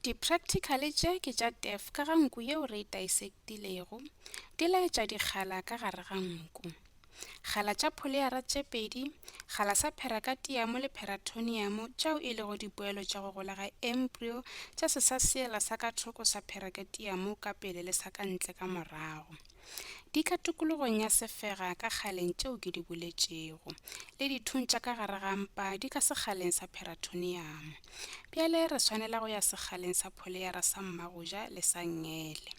Di-practical tše ke tša TEF ka ga nku yeo re e taisektilego, di laetša dikgala ka gare ga nku. Kgala tša pholeara tše pedi, kgala sa pherakatiamo le pheratoniamo tšeo e lego dipoelo tša go gola ga embryo tša sesaseela sa ka thoko sa pherakatiamo ka pele le sa ka ntle ka morago. Di ka tokologong ya sefega ka kgaleng tšeo ke di boletšego, le dithung tša ka gare ga mpa di ka sekgaleng sa pheratoniamo. Bjale re swanela go ya sekgaleng sa pholeyara sa mmagoja le sa ngele.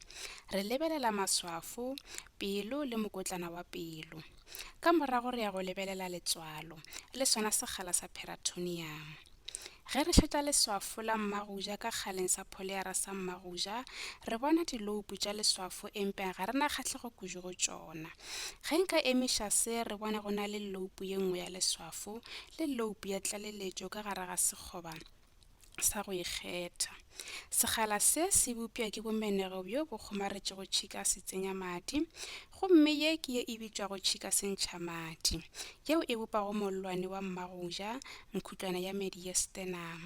Re lebelela maswafo, pelo le mokotlana wa pelo. Ka morago re ya go lebelela letswalo, le sona sekgala sa pheratoniamo. Ge re šetša leswafo la Mmagoja ka kgaleng sa Pholiara sa Mmagoja, re bona diloupu tša leswafo empea ga re na kgahlego kudu go tšona. Ge nka emiša se, re bona go na le loupu ye nngwe ya leswafo le loupu ya tlaleletšo ka gare ga sekgoba sa go ikgetha. Sekgala se se bopša ke bomenego bjo bo kgomaretšego tšhika se tsenya madi, Gomme ye ke ye e bitšwago tšhika sentšhamadi, yeo e bopago mollwane wa mmagoja, mkhutlwana ya mediastinum,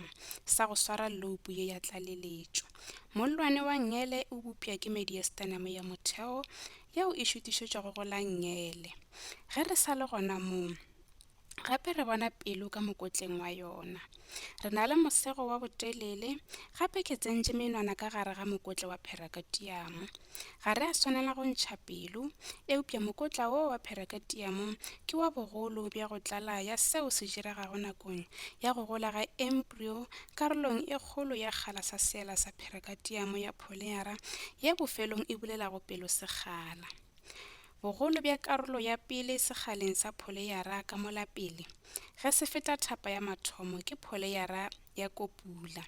sa go swara loupu ye ya tlaleletšo. Mollwane wa ngele o bopša ke mediastinum ya motheo, yeo e šutišetšwago go la ngele. Ge re sa le gona moo, gape re bona pelo ka mokotleng wa yona re na le mosego wa botelele gape ke tsentše menwana ka gare ga mokotle wa pherakatiamo ga re a swanela go ntšha pelo eupša mokotla wo wa pherakatiamo ke wa bogolo bja go tlala ya seo se diregago nakong ya go gola ga embryo karolong e kgolo ya kgala sa seela sa pherakatiamo ya polyera ye bofelong e bulelago pelo sekgala Bogolo bja karolo ya pele sekgaleng sa pholeyara ka molapele ge se feta thapa ya mathomo ke pholeyara ya kopula.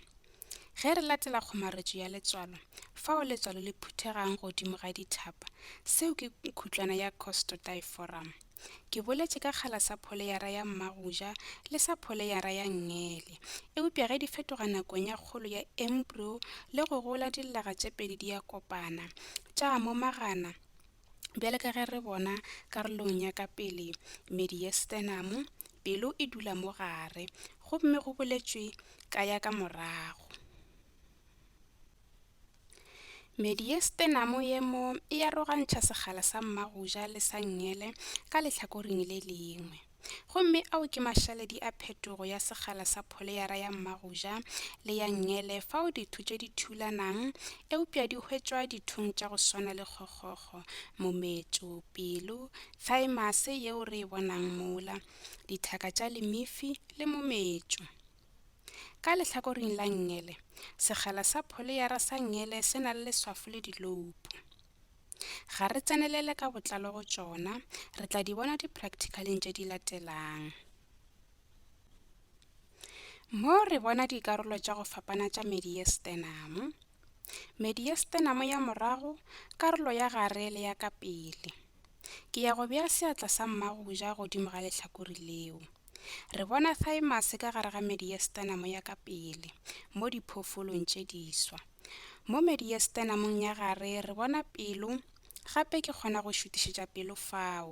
Ge re latela kgomaretšo ya letswalo, fao letswalo le phuthegang godimo ga dithapa, seo ke khutlwana ya costotiforum. Ke boletše ka kgala sa pholeyara ya mmagoja le sa pholeyara ya ngele, eupša ge di fetoga nakong ya kgolo ya embryo le go gola dillaga tše pedi di a kopana, tša momagana, Bjale ka ge re bona karolong ya ka pele, medi ye stenamo, pelo e dula mo gare, gomme go boletšwe ka ya ka morago. Medi ye stenamo ye mo e arogantšha segala sa mmagoja le sa ngele ka lehlakoring le lengwe. Gomme ao ke mašaledi a phetogo ya sekgala sa pholeyara ya mmagoja le ya nngele fao ditho tše di thulanang eupša di hwetšwa dithong tša go swana le kgokgokgo, mometšo, pelo, thaemase yeo re e bonang mola, dithaka tša lemifi le mometšo. Ka lehlakoring la nngele, sekgala sa pholeyara sa nngele se na le leswafo le diloupo. Ga re tsenelele ka botlalo go tšona, re tla di bona dipracticaleng tše di latelang. Mo re bona dikarolo tša go fapana tša mediestenamo. Mediestenamo ya morago, karolo ya gare le ya ka pele. Ke ya go bea seatla sa mmagoja godimo ga lehlakore leo. Re bona thymus ka gare ga mediestenamo ya ka pele mo diphoofolong tše diswa. Mo mediastenamong ya gare re bona pelo, gape ke kgona go šutišetša pelo fao.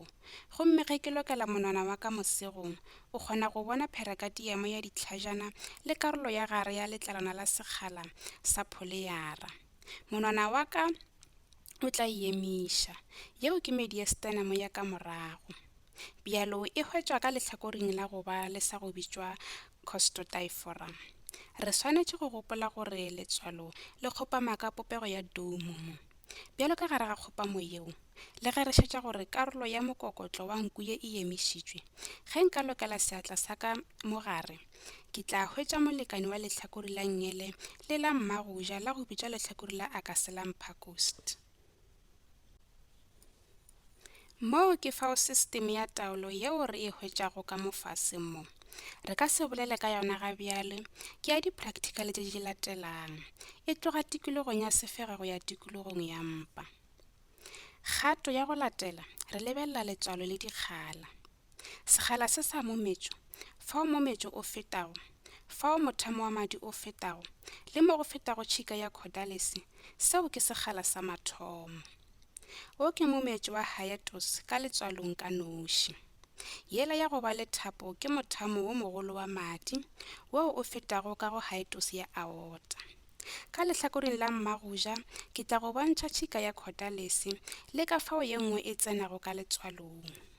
Gomme ge ke lokela monwana wa ka mosegong, o kgona go bona pherakatiamo ya ditlhajana le karolo ya gare ya letlalwana la sekgala sa pholeyara. Monwana wa ka o tla e emiša. Yeo ke mediastenamo ya ka morago. Bjalo e hwetšwa ka lehlakoring la go ba le sa go bitšwa Costotyphorum. Re swanetše go gopola gore letswalo le kgopama ka popego ya doumomo. Bjalo ka gare ga kgopamo yeo, le ge re šetša gore karolo ya mokokotlo wa nku ye e emišitšwe, ge nka lokela seatla sa ka mo gare, ke tla hwetša molekane wa lehlakore la nngele le la mmagoja la go bitša lehlakore la Acaselum pacust. Moo ke fao sistimi ya taolo yeo re e hwetšago ka mo fase mo, re ka se bolele ka yona ga bjale, ke ya diprakthikhale tše di latelang, e tloga tikologong ya sefega go ya tikologong ya mpa. Kgato ya go latela, re lebelela letswalo le dikgala. Sekgala se sa mometšo, fao mometšo o fetago, fao mothamo wa madi o fetago, le mo go fetago tšhika ya khodalese, seo ke sekgala sa mathomo. Wo ke mometšo wa hiatus ka letswalong ka noši. Yela ya go ba le thapo ke mothamo wo mogolo wa madi, woo o fetago ka go hiatus ya aorta. Ka lehlakoreng la mmagoja ke tla go bontšha tšhika ya khodalese le ka fao ye nngwe e tsenago ka letswalong.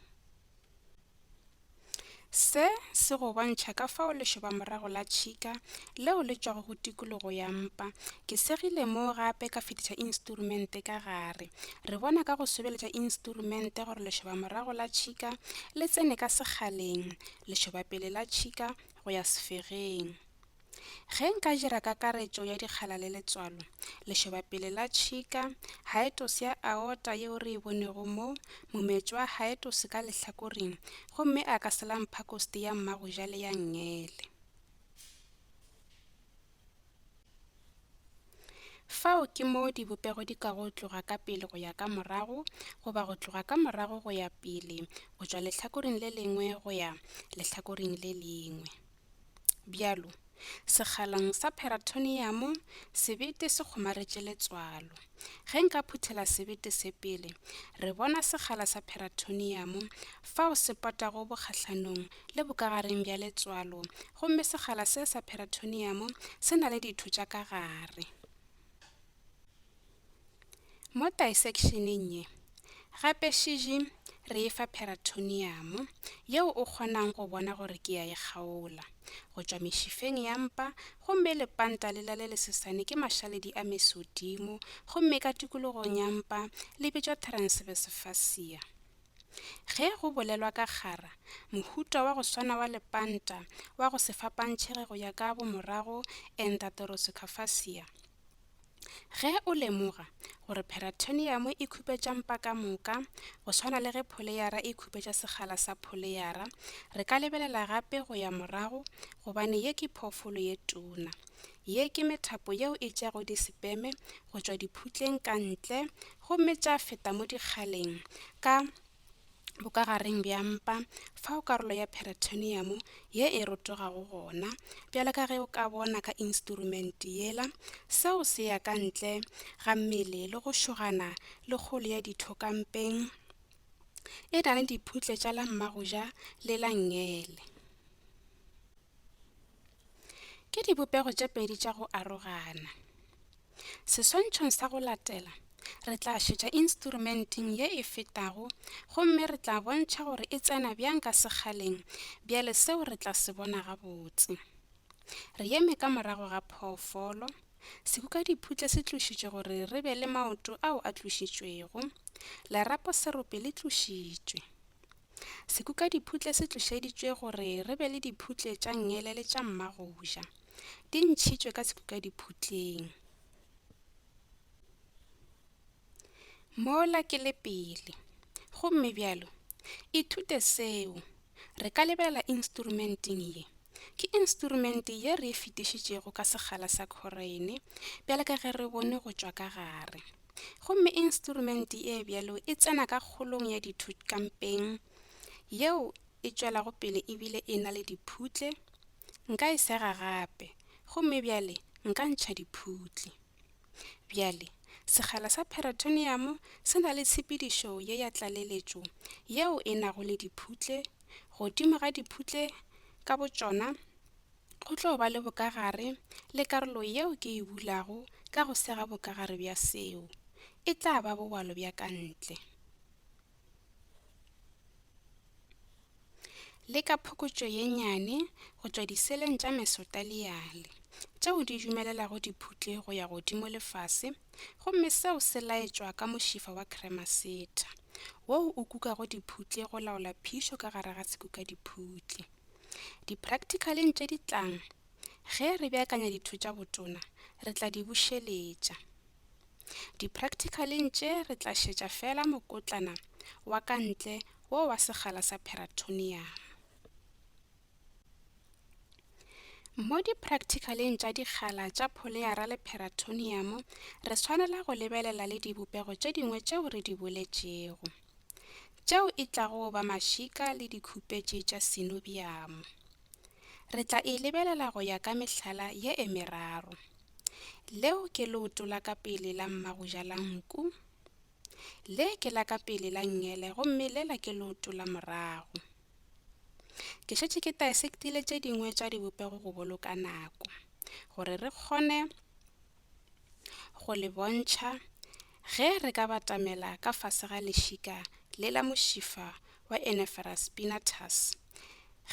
Se se go bontšha ka fao lešobamorago la tšhika leo le tšwago go tikologo ya mpa. Ke segile mo gape ka fetiša instrumente ka gare. Re bona ka go sobeletša instrumente gore lešobamorago la tšhika le tsene ka sekgaleng, lešobapele la tšhika go ya sefegeng. Ge nka dira kakaretšo ya dikgala le letswalo, lešobapele la tšhika, haetosi ya aorta yeo re e bonego mo, mometšo wa haetosi ka lehlakoring, gomme a ka se la mpha kosti ya mmagoja le ya nngele. Fao ke moo dibopego di ka go tloga ka pele go ya ka morago, goba go tloga ka morago go ya pele, go tšwa lehlakoring le lengwe go ya lehlakoring le lengwe. Bjalo, sekgaleng sa pheratoniamo sebete se kgomaretše letswalo. Ge nka phuthela sebete se pele, re bona sekgala sa pheratoniamo fao se potago bokgahlanong le bokagareng bja letswalo gomme sekgala se sa pheratoniamo se na le ditho tša ka gare. Mo taisekšeneng ye, gape šiji re e fa pheratoniamo yeo o kgonang go bona gore ke ya e kgaola go tšwa mešifeng ya mpa gomme lepanta lela le lesesane ke mašaledi a mesodimo gomme ka tikologong ya mpa le bitšwa transverse fascia. Ge go bolelwa ka kgara, mohuta wa go swana wa lepanta wa go se fapantšhege go ya ka bomorago, endarterosucaphasia, Ge o lemoga gore pheratoniamo e khupetša mpa ka moka go swana le ge pholeyara e khupetša segala sa pholeyara, re ka lebelela gape go ya morago gobane ye ke phoofolo ye tuna. Ye ke methapo yeo e tšeago disepeme go tšwa diphutleng ka ntle gomme tša feta mo dikgaleng ka bokagareng bja mpa fao karolo ya peritoneum ye e rotogago gona, bjalo ka ge o ka bona ka instrumente yela, seo se ya ka ntle ga mmele le go šogana le kgolo ya ditho ka mpeng, e na le diphutle tša la mmagoja le la ngele. Ke dibopego tše pedi tša go arogana. Seswantšhong sa go latela, re tla šetša instrumenteng ye e fetago gomme re tla bontšha gore e tsena bjang ka sekgaleng, bjale seo re tla se bona gabotse. Re eme ka morago ga phoofolo. Sekukadiphutle se tlošitšwe gore re be le maoto ao a tlošitšwego. Lerapo serope le tlošitšwe. Sekukadiphutle se tlošeditšwe gore re be le diphutle tša ngele le tša mmagoja. Di ntšhitšwe ka sekukadiphutleng. Mola ke le pele. Gomme bjalo, ithute seo. Re ka lebelela instrumenteng ye. Ke instrumente ye re e fetišitšego ka sekgala sa khorene, bjale ka ge re bone go tšwa ka gare. Gomme instrumenti e bjalo e tsena ka kgolong ya ditho kampeng, yeo e tšwelago pele e bile e na le diphutle, nka e sega gape, gomme bjale nka ntšha diphutle. Bjale, sekgala sa peratoniamo se na le tshepedišo ye ya tlaleletšo yeo e nago le diphutle, godimo ga diphutle ka botšona, Go tlo ba le bokagare le karolo yeo ke e bulago ka go sega bokagare bja seo. E tla ba bobalo bja ka ntle. Le ka phokotšo ye nyane go tšwa diseleng tša mesotaliale, tšeo di dumelelago diphutle go ya godimo le fase, gomme seo se laetšwa ka mošifa wa kremasetha, woo o kukago diphutle go laola phišo ka gare ga sekukadiphutle. Dipracticaleng tše di tlang, ge re beakanya ditho tša botona, re tla di bušeletša. Dipracticaleng tše re tla šetša fela mokotlana wa ka ntle wo wa segala sa peratonium. Mo dipracticaleng tša dikgala tša pholeara le peratonium re swanela go lebelela le dibopego tše dingwe tšeo re di boletšego. tšeo e tlago go ba mašika le dikhupetše tša synobium. Re tla e lebelela go ya ka mehlala ye e meraro. Leo ke leoto la ka pele la mmagoja la nku, le ke la ka pele la ngele gomme lela ke leoto la morago. Ke šetše ke taesektile tše dingwe tša dibopego go boloka nako gore re kgone go le bontšha ge re ka batamela ka fase ga lešika le la mošifa wa Enephrus spinatus.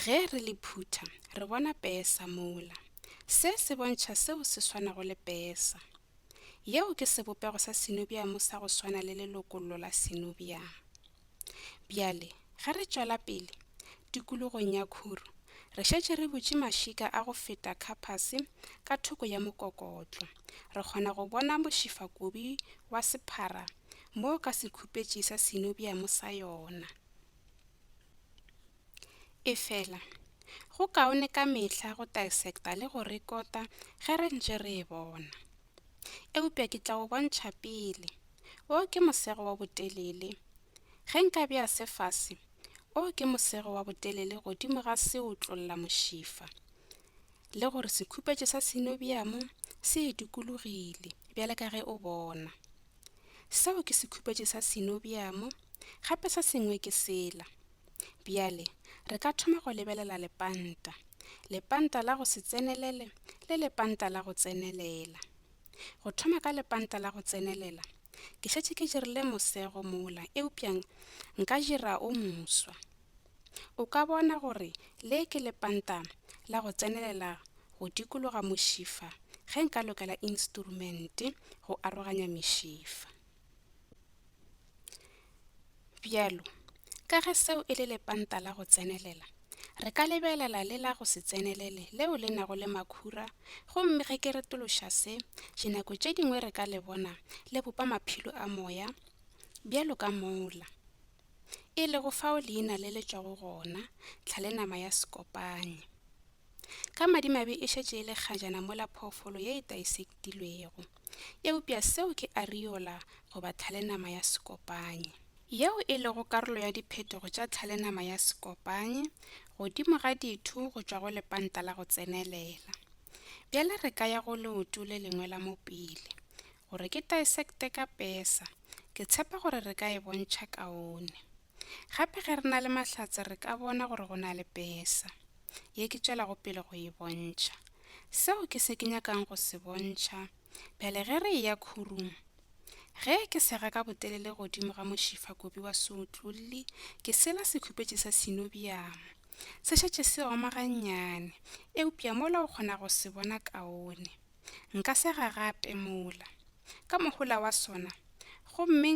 Ge re le phutha re bona pesa mola. Se se bontšha seo se swanago le pesa. Yeo ke sebopego sa sinobiamo sa go swana le lelokollo la sinobiamo. Bjale, ge re tšwela pele, tikologong ya khuru, re šetše re butše mašika a go feta khapase ka thoko ya mokokotlo, re kgona go bona mošifakobi wa sephara mo ka sekhupetše sa sinobiamo sa yona. Efela, go kaone ka mehla go dissecta le go rekota ge re ntše re e bona. Eupša ke tla go bontšha pele. Wo ke mosego wa botelele. Ge nka bea se fase, o ke mosego wa botelele godimo ga seotlollamošifa. Le gore sekhupetšo sa synovium se e dukulogile, bjale ka ge o bona. Seo ke sekhupetšo sa synovium, gape se sengwe ke sela. Bjale, re ka thoma go lebelela lepanta. Lepanta la go se tsenelele le lepanta la go tsenelela. Go thoma ka lepanta la go tsenelela, ke šetše ke dirile mosego mola eupša nka dira o moswa. O ka bona gore le ke lepanta la go tsenelela go dikologa mošifa ge nka lokela instrumente go aroganya mešifa. Bjalo ka ge seo e le lepanta la go tsenelela, re ka lebelela le la go se tsenelele leo le nago le makhura gomme ge ke retološa se, dinako tše dingwe re ka le bona le bopa maphelo a moya bjalo ka mola e lego fao leina le le tšwago gona, tlhalenama ya sekopanye. Ka madimabe e šetše e le kgajana mola phoofolo ye e taisektilwego. eupša seo ke ariola goba thalenama ya sekopanye. Yeo e lego karolo ya diphetogo tša thalenama ya sekopanye godimo ga ditho go tšwa go lepanta la go tsenelela. Bjale re ka ya go leoto le lengwe la mo pele, gore ke taesekte ka pesa, ke tshepa gore re ka e bontšha kaone. Gape ge re na le mahlatse re ka bona gore go na le pesa, ye ke tšwelago pele go e bontšha. Seo ke se ke nyakang go se bontšha bjale ge re eya khurung. Ge ke sega ka botelele godimo ga mošifa kobi wa seotlolli, ke sela sekhupetši sa sinobiamo. Se šetše se oma gannyane, eupša mola o kgona go se bona kaone. Nka sega gape mola, ka mohola wa sona, gomme.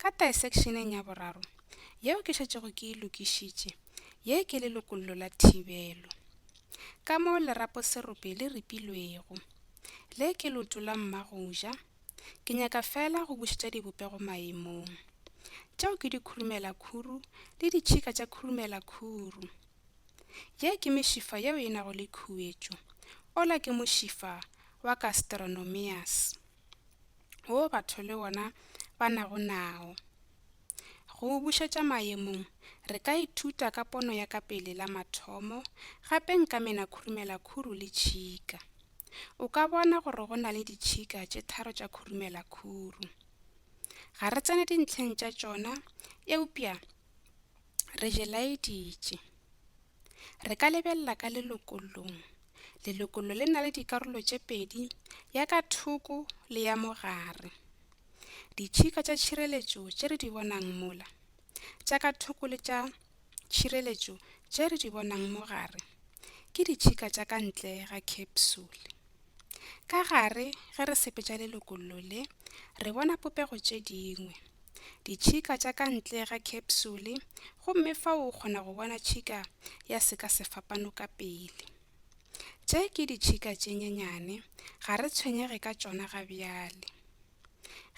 Ka taesekšeneng ya boraro, yeo ke šetšego ke e lokišitše, ye ke le lokollo la thibelo. Ka mo leraposerope le ripilwego, le ke loto la mmagoja, ke nyaka feela go bušetša dibopego maemong. Tšeo ke dikhurumelakhuru le ditšhika tša khurumelakhuru. Ye ke mešifa yeo e nago le khuetšo. Ola ke mošifa wa Castronomias. wo batho le wona ba nago nao. Go o bušetša mayemong, re ka ithuta ka pono ya ka pele la mathomo, gape nka mena khurumela khuru le tšhika. O ka bona gore go na le ditšhika tše tharo tša khurumela khuru. Ga re tsene dintlheng tša tšona, eupša Re je laeditše. Re ka lebelela ka lelokolong. Lelokolo le na le dikarolo tše pedi, ya ka thoko le ya mogare. Ditšhika tša tšhireletšo tše re di bonang mola, tša ka thoko le tša tšhireletšo tše re di bonang mogare, ke ditšhika tša ka ntle ga khepsule. Ka gare ge re sepetša lelokollo le, re bona popego tše dingwe, ditšhika tša ka ntle ga khepsule gomme fao o kgona go bona tšhika ya sekasefapano ka pele. Tše ke ditšhika tše nyenyane, ga re tshwenyege ka tšona ga bjale.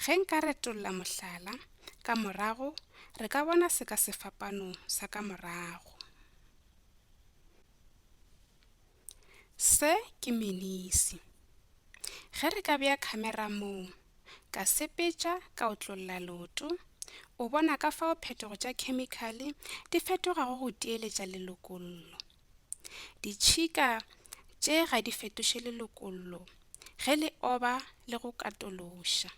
Ge nka retolla mohlala, ka morago re ka bona sekasefapano sa ka morago. Se ke menisi. Ge re ka bea khamera moo, ka sepetša, ka otlolla leoto, o bona ka fao phetogo tša khemikhale di fetogago go teeletša lelokollo. Ditšhika tše ga di fetoše lelokollo. ge le oba le go katološa.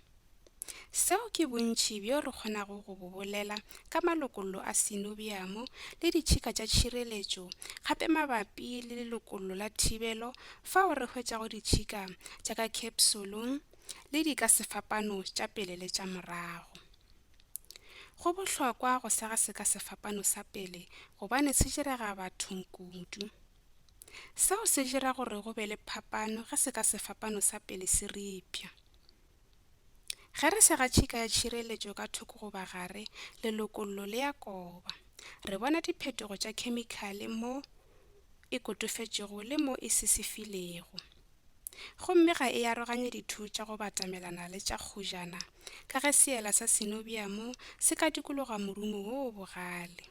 Seo ke bontši bjo re kgonago go bo bolela ka malokollo a sinobiamo le ditšhika tša tšhireletšo gape mabapi le lelokollo la thibelo fao re hwetšago ditšhika tša ka khepsolong le di ka sefapano tša pele le tša morago. Go bohlokwa go sega seka sefapano sa pele gobane se direga bathong kudu. Seo se dira gore go be le phapano ge se ka sefapano sa pele se ripša. Ge re sega tšhika ya tšhireletšo ka thoko goba gare, lelokollo le ya koba. Re bona diphetogo tša khemikhale mo e kotofetšego le mo e sisifilego. Gomme ga e aroganye ditho tša go batamelana le tša kgojana ka ge seela sa sinobiamo se ka dikologa morumo wo o bogale.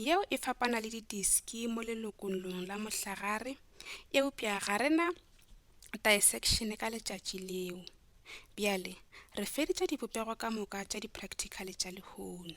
Yeo e fapana le didiski mo lelokolong la mohlagare, eupša ga re na disekšene ka letšatši leo. Bjale re feditše dibopego ka moka tša diprakthikhale tša lehono.